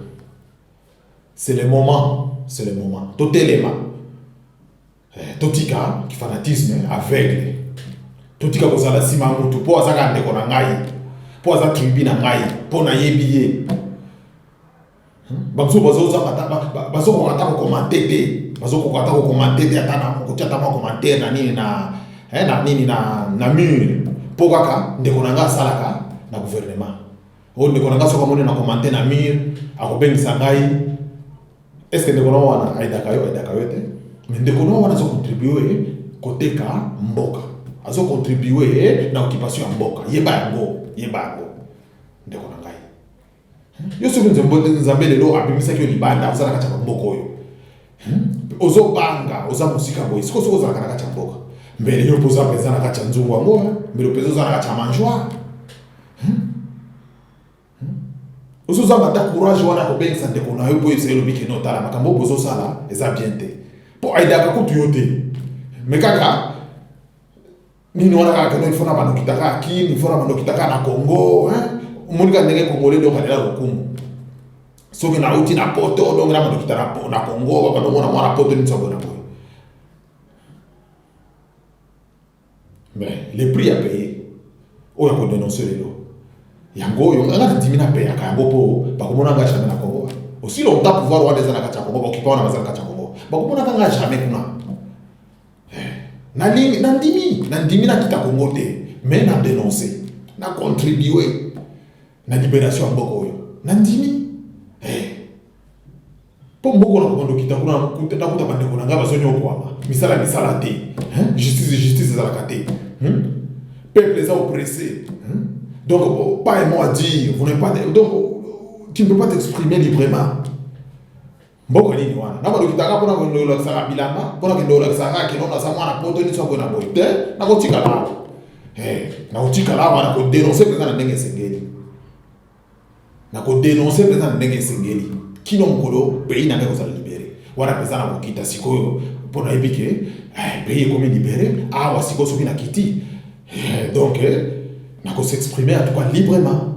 C'est le moment, c'est le moment. Totelema. Eh, totika kifanatisme aveugle. Totika kozala nsima ya motu mpo azaka ndeko na ngai, mpo aza tribu na ngai, mpo nayebi ye. bamosusu bazozanga ata bazokoka ata kokomante te bazokoka ata kokomante te ata na kotia ata bakomantere na nini na eh, na nini na na mure mpo kaka ndeko na ngai asalaka na gouvernement oyo ndeko na ngai soki amoni na komante na mire akobengisa ngai eske ndeko na wana aidaka yo aidaka yo te mais ndeko na wana azokontribue koteka mboka azokontribue na occupation ya mboka yeba yango yeba yango ndeko na ngai yo soki nzambe lelo abimisaki yo libanda ozalaka tya bamboka oyo hmm? ozobanga oza mosika boye sikoyo soki ozalaka na kati ya mboka mbele yo mpoza mpenza na kati ya nzungu yango eh? mbele mpenza oza na kati ya mangeoire hmm? hmm? ozozanga ata courage wana kobengisa ndeko na yo mpo yebisa elobi kino otala makambo oyo bozosala eza bien te mpo aidaka kutu yo te me kaka nini wana kaka tono ifona banokita kaka kin ifona banokita kaka na congo omoni kaka ndenge congolais donc alela lokumu soki nauti na poto donc na banokita na congo babanomona mwana poto nini sabona boye mais le prix ya paye oyo ya kodenonse lelo yango oyo nga nandimi napeyaka yango mpo bakomona nga jamais na congo aussi longtemps pouvoir wana eza na kati ya congo baokipa wana bazala kati ya congo bakomonaka nga jamais kuna nandimi nandimi nandimi nakita kongo te mais na denonce na contribue na liberation ya mboka oyo nandimi mpo mboka na kokondo kita kuna nakuta bandeko na ngai bazonyokwama misala misala te justice justice ezalaka te hmm? peuple eza oppressé hmm? donc oh, pas un mot à dire vous n'avez pas de... donc tu ne peux pas t'exprimer librement Mboko nini wana? Na balokitaka mpona kokende kolakisaka bilamba, mpona kokende kolakisaka kaka kino naza mwana poto nini soki na boye te, nakotikala awa. Eh, nakotikala awa na kodenonse mpenza na ndenge esengeli. Na kodenonse mpenza na ndenge esengeli. Kino mokolo pays na ngai ekozala libere. Wana mpenza na kokita sikoyo mpo nayebi ke eh, pays ekomi libere awa sikoyo soki nakiti eh, donc eh, na ko s'exprimer en tout cas librement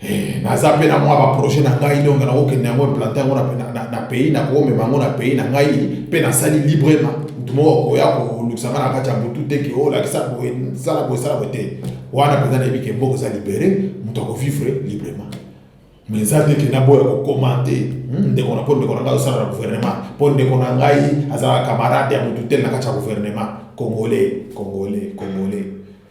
Eh, naza mpe na mwa baprojet na ngai donc nakokende yango implante yango na pays nakomema yango na pays na ngai mpe nasali librema moto moko akoya kolukisa ngai na kati ya butu te ke olakisa oh, boye sala boye sala boye te wana mpenza nayebi ke mboka eza libere moto akovivre librema mais eza te ke naboya kokomante hmm, ndeko na mpo ndeko na ngai azosala na gouvernement mpo ndeko na ngai azalaka camarade ya motu te na kati ya gouvernement congolais congolais congolais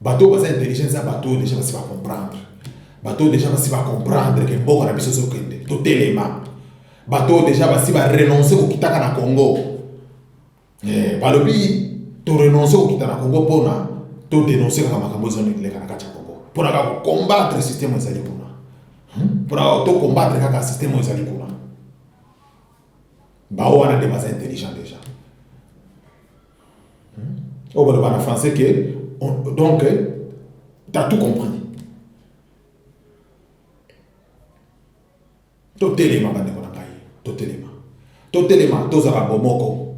bato baza intelligent eza bato oyo deja basi bacomprendre bato oyo deja basi bacomprendre ke mboka na biso ezokende totelema bato oyo deja basi barenonce kokitaka na congo eh, balobi torenonce kokita na congo mpona todenonce kaka makambo ezonileka na kati ya congo mpona kaka kocombatre systeme ezali kuna hmm? mpona kaka tocombatre kaka systeme ezali kuna bao wana nde baza intelligent deja oyo baloba na français ke donc t'as tout compris totelema bandeko na ngai totelema totelema tozala bomoko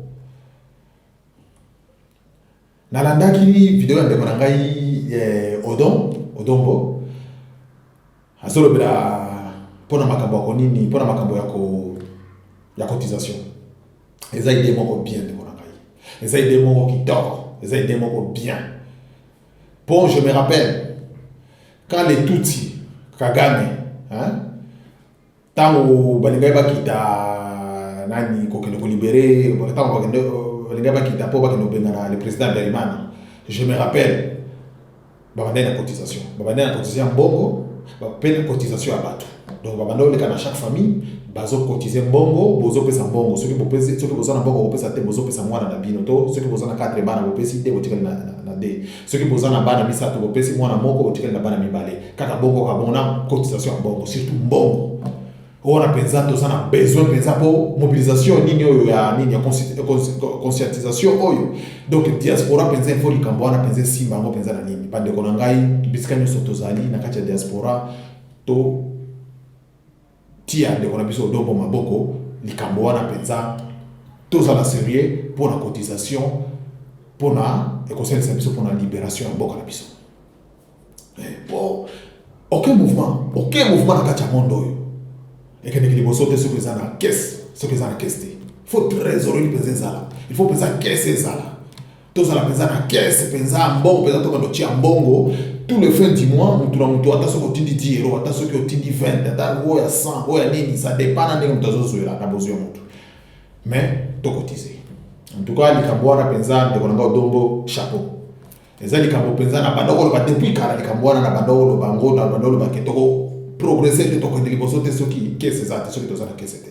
nalandaki video ya ndeko na ngai eh, odon odombo Azolobela pona makambo ya konini, pona makambo ya ko ya cotisation. Eza idee moko bien ndeko na ngai, eza idee moko kitoko, eza idee moko bien. Po je me rappelle quand les Tutsi, Kagame, hein, ntango balingaki bakita nani kokende kolibere ntango bakende balingaki bakita mpo bakende kobengana le président Bergman je me rappelle babandaki na cotisation babandaki na cotisation ya mbongo mpe na cotisation ya bato donc babanda oleka na chaque famille bazokotize mbongo bozopesa mbongo soki bopesi soki boza na mbongo bopesa te bozopesa mwana na bino to soki boza na 4 bana bopesi te botikali na, na, na de soki boza na bana misato bopesi mwana moko botikali na bana mibale kaka bongo kaka bongo na cotisation ya mbongo surtout mbongo wana mpenza toza na besoin mpenza mpo mobilisation nini oyo ya nini ya conscientisation oyo donc diaspora mpenza ifo likambo wana mpenza esimba yango mpenza na nini bandeko na ngai bisika nyonso tozali na kati ya diaspora to Tia ndeko na biso Odongo maboko likambo wana penza tozala serieux pona cotisation pona ekosalisa biso pona liberation ya mboka na biso eh, po aucun mouvement aucun mouvement na kati ya monde oyo ekendeki liboso te soki eza na kese soki eza na kese te faut trésorier mpenza ezala il faut mpenza kese ezala tozala mpenza na kese mpenza ya mbongo mpenza tokando tia mbongo tout le fin du mois motu na motu ata soki otindi 10 euro ata soki otindi 20 ata oyo ya 100 oyo ya nini ça dépend na ndenge motu azozwela na bozwi ya motu mais tokotize en tout cas likambo wana mpenza ndeko na ngai odongo chapeau eza likambo mpenza na banda oloba depuis kala likambo wana na banda oloba ngo na banda oloba ke toko progresse te tokende liboso te soki kese eza te soki toza na kese te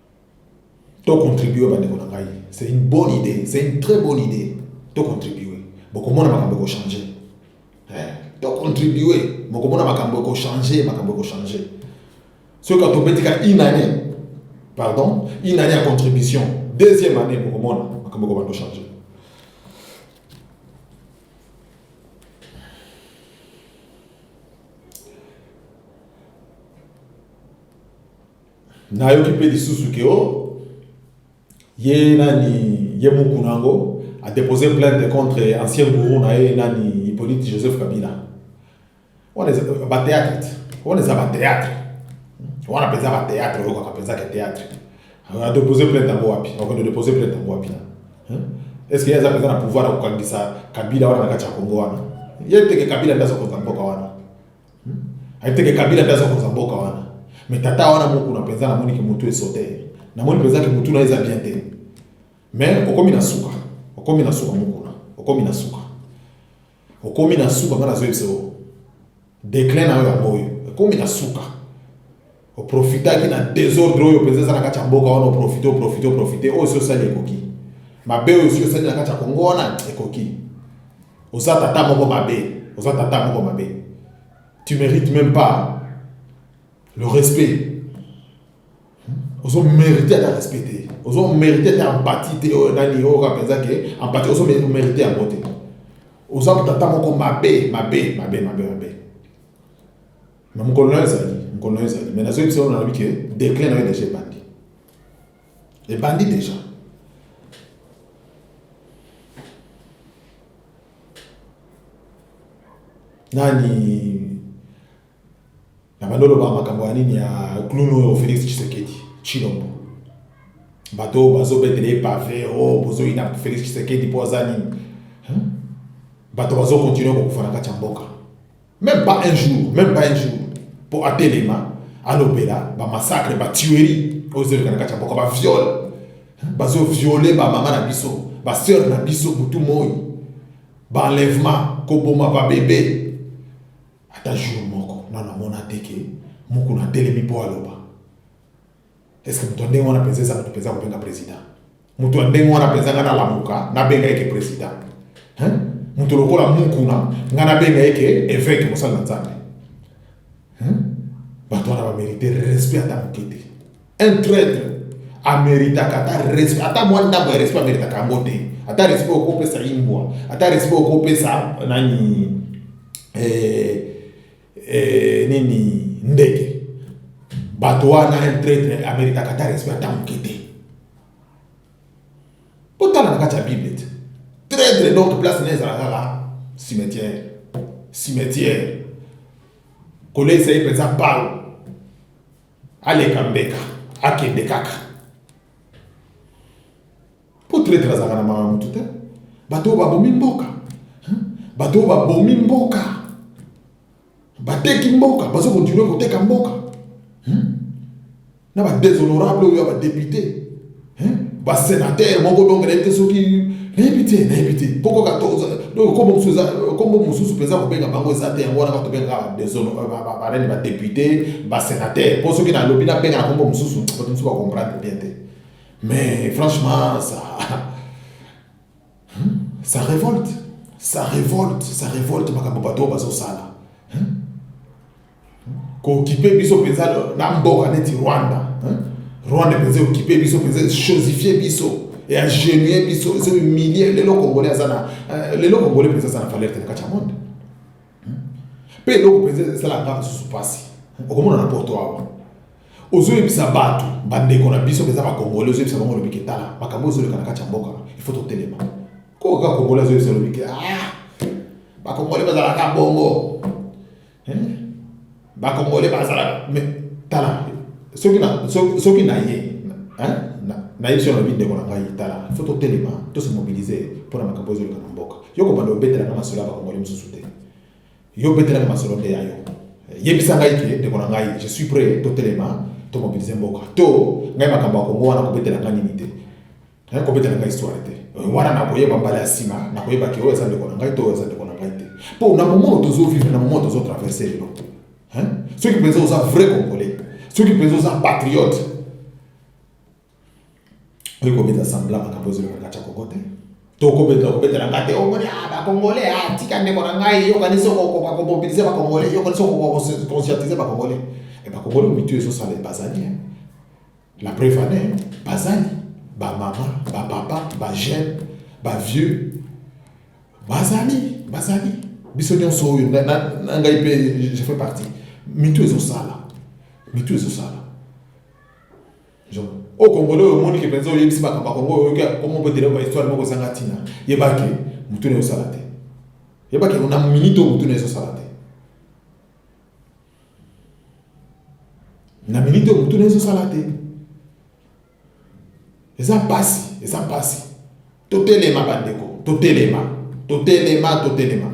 to contribuer bandeko na ngai c'est une bonne idée c'est une très bonne idée to contribuer bokomona makambo ekochange eh, to contribuer bokomona makambo ekochange makambo ekochange soki ka tobeti ka une année pardon une année ya contribution deuxième année bokomona makambo ekobanda ochange nayoki mpe lisusu ke o oh, ye nani ye muku na yango adepose plainte contre ancien gourou na ye nani hippolyte joseph kabila wana eza batheatre te wana eza batheatre wana mpenza batheatre oyokaka mpenza ke theatre adepose plainte yango wapi akende depose plainte yango wapi na est ce que ye aza mpenza na pouvoir ya kokangisa kabila wana na kati ya kongo wana ye teke kabila nde azokonza mboka wana Ayebiteke Kabila nde aza konza mboka wana. Mais tata wana mokuna mpenza namoni ke mutu esote ye. Namoni mpenza ke mutu na ye eza bien te. Mais okomi na suka. Okomi na suka mokuna. Okomi na suka. Okomi na suka nga nazoyebisa yo. Declin na yo yango oyo. Ekomi na suka. oprofitaki na desordre oyo mpenza eza na kati ya mboka wana oprofite oprofite oprofite oyo si osali ekoki mabe oyo si osali na kati ya kongo wana ekoki oza tata moko mabe oza tata moko mabe tu mérite même pas le respect ozo mérite ata respect te ozo mérite ata empathie te oyo nani oyo kaka mpenza ke empathie ozo mérite yango te oza tata moko mabe mabe mabe mabe mabe Na mokolo na yo ezali, mokolo na yo ezali. Mais nazoyebisa yo nalobi ke declin na yo deja ebandi. Ebandi deja. Nani na bando loba makambo ya nini ya clown oyo Felix Tshisekedi Tshilombo. Bato oyo bazobetela ye pave o oh, bozoyina Felix Tshisekedi mpo aza nini? Bato bazokontinue kokufa na kati ya mboka. Meme pas un jour, meme pas un jour. Pour Atelema, alobela, ba massacre, ba tuerie, aux elka na kati ya mboka, ba viol. Bazo violer ba mama na biso, ba sœur na biso butu moi. Ba enlèvement, koboma ba bébé. Ata jour moko, na na mona teke, mukuna telemi po aloba. Est-ce que moto ya ndenge wana penza eza moto penza kobenga president? Moto ya ndenge wana penza nga nalamuka nabenga ye ke president? Hein? Moto lokola Mukuna nga nabenga ye ke eveke mosali na Nzambe? Hein? Bato wana ba merite respect ata moke te. Un traitre ameritaka ata respect ata mwa ndambo ya respect ameritaka yango te. Ata respect okopesa imbwa, ata respect okopesa nani eh, eh, nini ndeke bato wana un traitre amerikaka ata respect ata moke te botala na kati ya bible te traitre donc place na ezala kaka cimetière cimetière koleisa ye mpenza palo aleka mbeka akende kaka Po traitre azalaka na mawa mutu te. Bato oyo babomi mboka. Bato oyo babomi mboka. Bateki mboka, bazo continuer koteka mboka. Na ba déshonorable oyo ya ba députés. Ba sénateur moko donc nayebi te soki nayebi te nayebi te poko katoza donc kombo mosusu eza kombo mosusu mpenza kobenga bango eza te yango wana bato bengaka desono barene badepute basenateur mpo soki nalobi nabenga na kombo mosusu bato mosusu bakomprendre bien te Mais franchement, ça. Hein? Ça révolte. Ça révolte. Ça révolte, makambo bato bazo sala. Hein? Kokipe biso penza na mboka neti Rwanda. Hein? Rwanda penza okipe biso penza chosifier biso. Et ingénier biso, c'est humilier lelo congolais azana. Euh, lelo congolais penza azana valeur te na kati ya monde. mpe eloko mpenza ezala ngai mosusu mpasi okomona na porto awa ozoyebisa bato bandeko na biso mpenza bakongole ozoyebisa bango olobiki tala makambo ezoleka na kati ya mboka ifo totelema koko kaka kongole azoyebisa olobiki ah bakongole bazalaka bongo ba congolais bazalaka mais tala soki na soki na ye hein na yebi soki na ndeko na ngai tala faut totelema to se mobiliser mpo na makambo ezoleka na mboka yo kobanda obetelaka masolo ya bakongoli mosusu te yo obetelaka masolo nde ya yo yebisa ngai ke ndeko na ngai je suis prêt totelema to mobiliser mboka to ngai makambo ya kongo wana kobetela ngai nini te Naye kobeta na ngai histoire te euh, wana nakoyeba mbala ya sima nakoyeba ke oyo eza ndeko na ngai to oyo eza ndeko na ngai te mpo na momono tozo vivre na momono tozo traverse lelo soki mpenza oza vrai congolais soki mpenza oza patriote oyo kobeta semblant makambo ezoleka na kati ya kongo te to kobeta kobeta na ngai te omoni oh, ah, bakongolais atika ah, ndeko na ngai yokanisi okokoka komobilize bakongolais yokanisi okokoka koconscientize bakongolais e bakongolais mitu ezosala ebazali La preuve en est, bazali ba mama, ba papa, ba jeune, ba vieux, bazali, bazali. Biso nyonso oyo na ngai mpe je fais partie. Mitu ezosala, mitu ezosala. Au Congolais, au monde qui pense, il y a pas Congo, comme on peut dire, la histoire, on peut dire, il y a pas que, mutu ne salate. Il y a pas que, on a minute, mutu ne salate. na minite oyo motuna ezosala te eza mpasi eza mpasi totelema bandeko totelema totelema totelema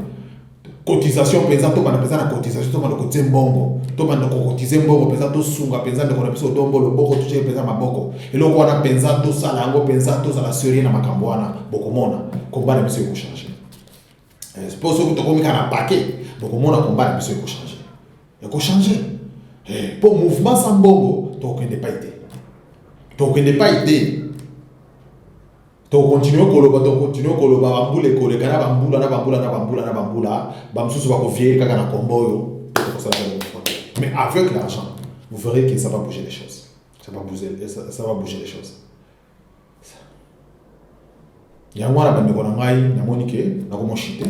cotisation mpenza tobanda mpenza na cotisation tobanda kotie mbongo tobanda kokotize mbongo mpenza tosunga mpenza ndeko na biso odombo loboko totie mpenza maboko eloko wana mpenza tosala yango mpenza tozala serie na makambo wana bokomona komba na biso ekochange Eh, po soki tokomi kaka na pake bokomona komba na biso ekochange ekochange eh, po mouvement sa mbongo tokokende pai te tokokende pai te tokontinue koloba tokontinue koloba bambula ekoleka na bambula na bambula na bambula na bambula bamosusu bakovieye kaka na kombo oyo ekosala mais avec l'argent vous verrez que ça va bouger les choses ça va bouger, ça va bouger les choses yango wana bandeko na ngai namoni ke nakomoshite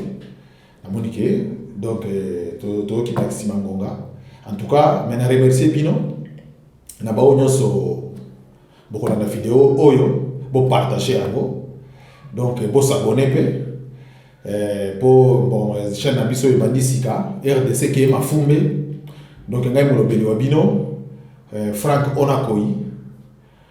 namoni ke donc eh, toyokima nsima ngonga en tout cas me na remercie bino na baoyo nyonso bokolanda video oyo bopartage yango donc eh, bosabone mpe eh, mpo bon chaîne na biso ebandi sika rdc keye mafumbe donc ngai molobeli wa bino frank onakoi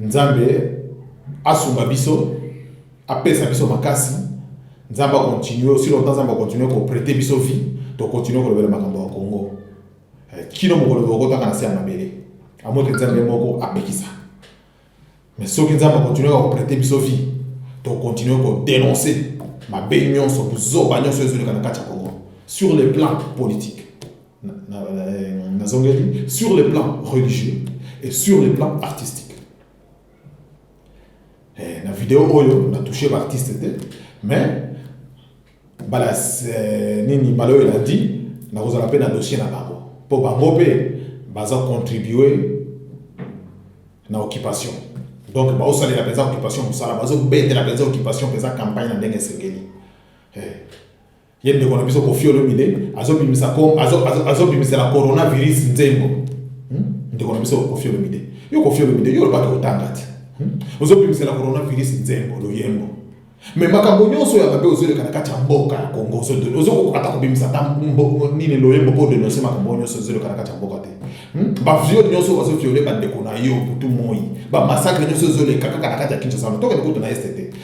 Nzambe asunga biso, apesa biso makasi. Nzambe akontinue aussi longtemps, Nzambe akontinue koprete biso vie, tokontinue kolobela makambo ya Congo eh, kino mokolo tokokotaka na se ya mabele, amoke Nzambe moko apekisa. Mais soki Nzambe akontinue koprete biso vie, tokontinue kodenonse mabe nyonso, buzoba nyonso ezoleka na kati ya Congo sur le plan politique. nazongeli sur le plan religieux et sur le plan artistique eh, na video oyo na touche baartiste te mais bala eh, nini bala oyo elandi nakozala mpe na dossier na bango mpo bango mpe baza contribue na occupation donc baosalela mpenza occupation mosala bazobetela mpenza occupation mpenza campagne na ndenge esengeli eh. Ye ndeko na biso Koffi Olomide azo bimisa ko azo azo azo bimisa la coronavirus nzembo. Hmm? Ndeko na biso Koffi Olomide. Yo Koffi Olomide yo lobaka otanga te. Hmm? Ozo bimisa la coronavirus nzembo loyembo. Mais makambo nyonso ya mabe ozoleka na kati ya mboka ya Kongo ozo ozo kokata ko bimisa ta mbo nini loyembo po de nonse makambo nyonso ozoleka na kati ya mboka te. Hmm? Ba viol nyonso ozo viole ba ndeko na yo butu moi. Ba massacre nyonso ozoleka kaka na kati ya Kinshasa. Toke kutu na STT.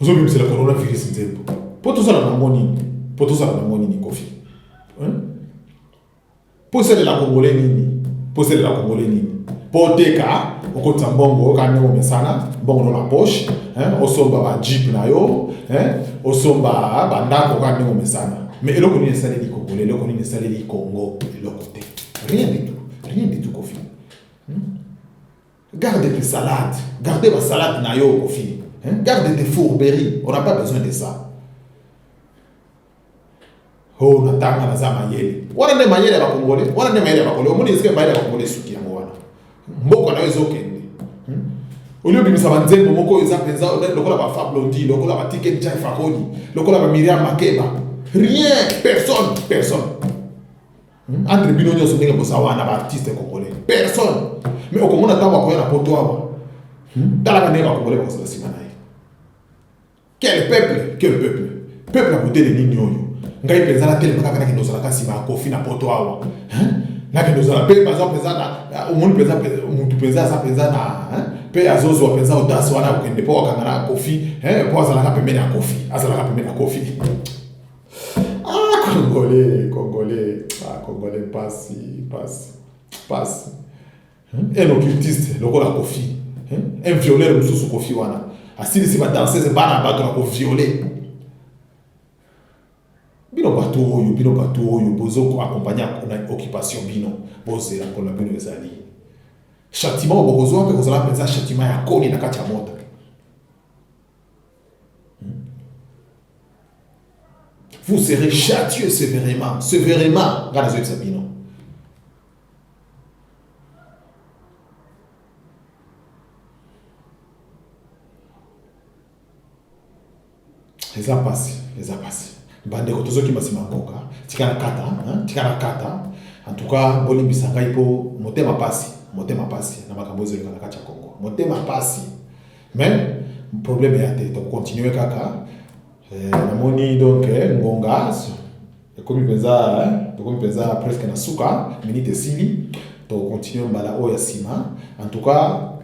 Ozo bebisela corona virus nzembo. Po tozala na ngo nini? Po tozala na ngo nini kofi? Hein? Po esalela congolais nini? Po esalela congolais nini? Po oteka okotisa mbongo oka ndenge omesana mbongo no na poche hein? osomba ba jeep na yo hein? osomba ba ndako oka ndenge omesana mais eloko nini esaleli congolais eloko nini esaleli congo eloko te rien du tout rien du tout kofi Garde tes salades, garde ba salade na yo Kofi. Hein? Garde tes fourberies, on n'a pas besoin de ça. Oh, natanga naza mayele. Wana nde mayele ya bakongole, wana nde mayele ya bakongole. Omoni esike mayele ya bakongole esuki yango wana. Mboka na yo ezokende. Hmm? Oyo obimisa ba nzembo moko eza penza lokola ba Fab Blondie, lokola ba Ticket Jai Fakoli, lokola ba Miriam Makeba. Rien, personne, personne. Entre bino nyoso ndenge boza wana ba artistes congolais. Personne. Mais okomona tango akoya na poto awa. Hmm? Talaka ndenge ba congolais bakozala sima na ye. Quel peuple? Quel peuple? Peuple ya modele nini oyo? Ngai mpenza natelema kaka nakende ozalaka nsima ya kofi na poto awa. Hein? Nakende ozala mpe baza mpenza na omoni mpenza mutu mpenza aza mpenza na hein? mpe azozwa mpenza audace wana akokende mpo akanga na kofi hein? mpo azalaka pembeni ya kofi azalaka pembeni ya kofi Ah, Congolais, Congolais, ah, Congolais, pasi, pasi, pasi. Hmm? Un occultiste, lokola Kofi. Hmm? Un violeur mosusu Kofi wana. Asilisi ba danseuse bana bato na ko violer. Bino bato oyo, bino bato oyo bozo ko accompagner na occupation bino. Bozela ko na bino ezali. Châtiment bokozwa mpe kozala mpenza châtiment ya koni na kati ya moto. vous serez châtieux sévèrement sévèrement ngai nazoyebisa bino eza mpasi eza mpasi bandeko tozokima nsima mboka tika na kata hein? tika na kata en tout cas bolimbisa ngai mpo motema mpasi motema mpasi na makambo ezoleka na kati ya kongo motema mpasi mais problème ya te donc continue kaka eh, namoni donc eh, ngonga ekomi mpenza eh, tokomi mpenza presque na suka minute esili tocontinue mbala oyo ya nsima en tout cas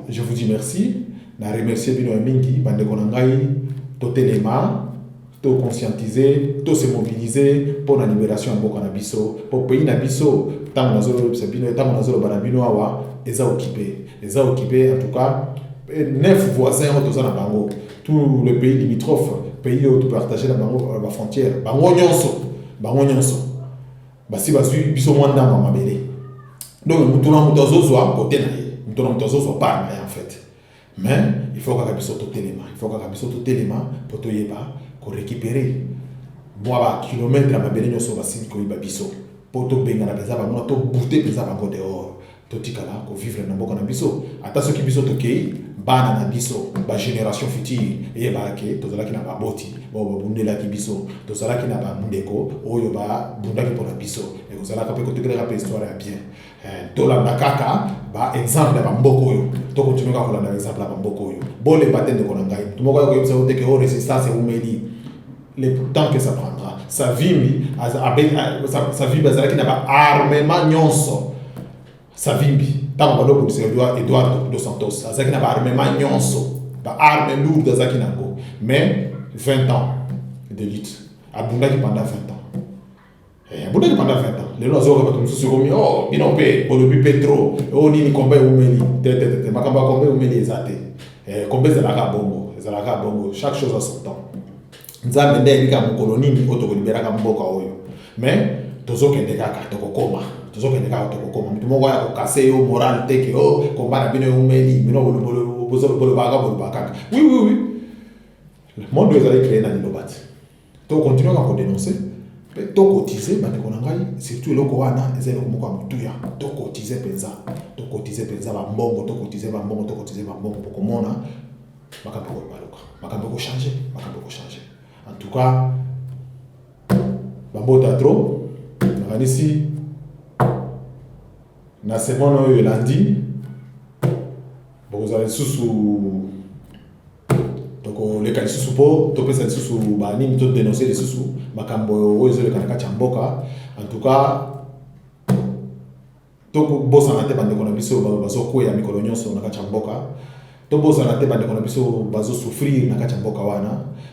je vous dis merci na remercie bino ya mingi bandeko na ngai totelema To conscientiser, to se mobiliser mpo na liberation ya mboka na biso. Mpo pays na biso, tango nazo yebisa bino, tango nazo loba na bino awa, eza occupe. Eza occupe en tout cas neuf voisins oyo toza na bango, tout le pays limitrophe, pays oyo to partager na bango ba frontières, bango nyonso, bango nyonso basi bazwi biso mwa ndambo ya mabele. Donc moto na moto azo zwa cote na ye, moto na moto azo zwa part na ye en fait. Mais il faut kaka biso totelema, il faut kaka biso totelema po toyeba ko recuperer mwa ba kilomètre ya mabele nyonso basili koyiba biso po tobengana mpenza bango to bute mpenza bango dehors totikala kovivre na mboka na biso ata soki biso tokei bana na biso bagénération future eyebaka ke tozalaki na baboti bao babundelaki biso tozalaki na bandeko oyo babundaki mpona biso ekozalaka mpe kotekelaka mpe histoire ya bien tolanda kaka ba exemple ya bamboka oyo to continue kaka kolanda ba exemple ya bamboka oyo bolemba te ndeko na ngai moto moko ya koyebisa yo te ke o resistance eumeli le temps que ça prendra savimbi savimbi azalaki na ba armement nyonso savimbi ntango bando obundisa edouard dos santos azalaki na ba armement nyonso ba arme lourde azalaki na yango mais 20 ans de lutte abundaki pendant 20 ans Eh, abundaki pendant 20 ans lelo azoyoka bato mosusu ekomi o oh, bino mpe bolobi mpe tro o oh, nini komba eumeli tetetete makambo ya komba eumeli eza te eh, komba ezalaka bongo ezalaka bongo chaque chose a son temps nzambe nde ayebika mokolo nini oyo tokoliberaka mboka oyo mais tozokende kaka tokokoma tozokende kaka tokokoma moto moko ya kokase yo moral te ke o oh, komba na bino eumeli bino bolobaka bolobaka kaka oui oui oui monde oyo ezali kreye na liloba te To continuer kaka ko denoncer mpe to cotiser bandeko na ngai, surtout eloko wana eza eloko moko ya motuya. To cotiser mpenza, to cotiser mpenza ba mbongo, to cotiser ba mbongo, to cotiser ba mbongo, bokomona makambo ekobaluka, makambo ekochanger, makambo ekochanger. En tout cas, bambota trop, nakanisi na semaine oyo elandi bokozala lisusu tokoleka lisusu mpo topesa lisusu banini to denoncer lisusu makambo oyo ezoleka na kati ya mboka en tout cas tokobosana te bandeko na biso bazokweya mikolo nyonso na kati ya mboka tobosana te bandeko na biso bazosouffrir na kati ya mboka wana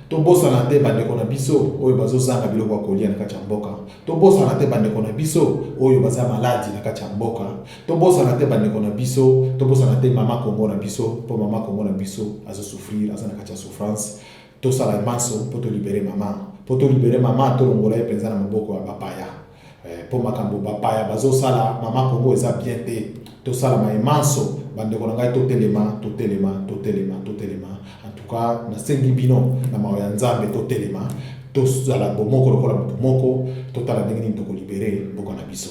tobosana te bandeko na biso oyo bazozanga biloko ya kolia na kati ya mboka tobosana te bandeko na biso oyo baza maladi na kati ya mboka tobosana te bandeko na biso tobosana te mama kongo na biso mpo mama kongo na biso azosouffrir aza na kati ya souffrance tosala manso mpo tolibere mama mpo tolibere mama tolongola ye mpenza na maboko ya bapaya eh, mpo makambo bapaya bazosala mama kongo eza bien te tosala maye manso bandeko na ngai totelema totelema totelema totelema antuka nasengi bino na mawa ya nzambe totelema tozala bomoko lokola moto moko totala ndenge nini tokolibere mboka na biso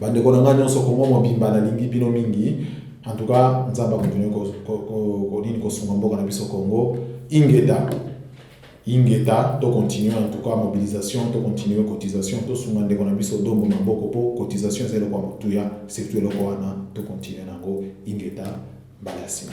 Bandeko na ngai nyonso, Kongo mobimba nalingi bino mingi. En tout cas, Nzambe akontinue konini kosunga mboka na biso Congo. Ingeta ingeta to continue en tout cas mobilisation to continue cotisation tosunga ndeko na biso dombo maboko mpo cotisation eza eloko ya motuya surtout eloko wana to continue na yango ingeta mbala ya nsima